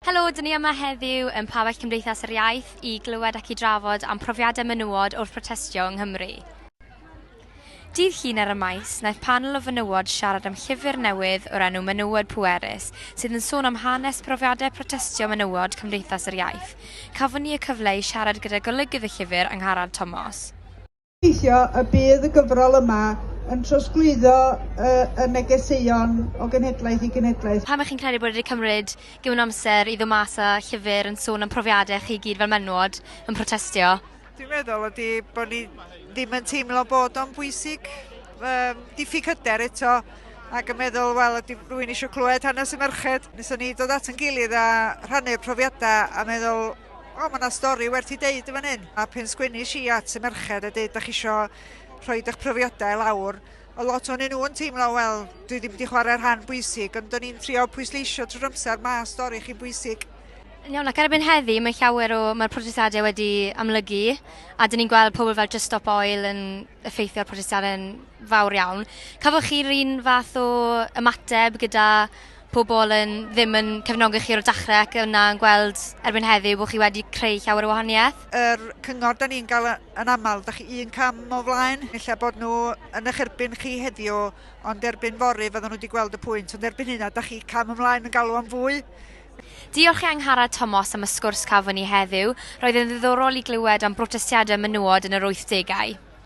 Helo, dyn ni yma heddiw yn Pabell Cymdeithas yr Iaith i glywed ac i drafod am profiadau menywod wrth protestio yng Nghymru. Dydd Llun ar y Maes, wnaeth panel o fenywod siarad am llyfr newydd o'r enw Menywod Pwerus, sydd yn sôn am hanes profiadau protestio menywod Cymdeithas yr Iaith. Cafon ni y cyfle i siarad gyda golygydd y llyfr, Angharad Tomos. gobeithio y bydd y gyfrol yma yn trosglwyddo y, y negeseuon o genhedlaeth i genhedlaeth. Pam ych chi'n credu bod wedi cymryd gymaint o amser i ddod mas â llyfr yn sôn am profiadau chi gyd fel menywod yn protestio? Dwi'n meddwl ydy bod ni ddim yn teimlo bod o'n bwysig. Um, diffyg hyder eto ac yn meddwl, wel, ydy rwy'n eisiau clywed hanes y merched. Nes o'n ni dod at yn gilydd a rhannu'r profiadau a meddwl, O, mae yna stori werth i deud yn fan hyn. A pen sgwennish i at y merched a deud, da chi isio rhoi eich profiadau lawr, o lot o'n nhw yn teimlo, wel, dwi ddim wedi chwarae rhan bwysig, ond o'n i'n trio pwysleisio trwy'r amser, mae stori chi'n bwysig. Iawn, ac erbyn heddi, mae llawer o... mae'r protestiadau wedi amlygu, a dyn ni'n gweld pobl fel Just Stop Oil yn effeithio'r protestiadau'n fawr iawn. Cafodd chi'r un fath o ymateb gyda pobl yn ddim yn cefnogi chi o'r dechrau ac yna yn gweld erbyn heddiw bod chi wedi creu llawer o wahaniaeth? Yr cyngor da ni'n gael yn aml, da chi un cam o flaen, ella bod nhw yn eich erbyn chi heddiw, ond erbyn fori fydden nhw wedi gweld y pwynt, ond erbyn hynna, da chi cam ymlaen yn galw am fwy. Diolch i Angharad Tomos am y sgwrs cafon ni heddiw. Roedd yn ddiddorol i glywed am brotestiadau menywod yn yr wythdegau.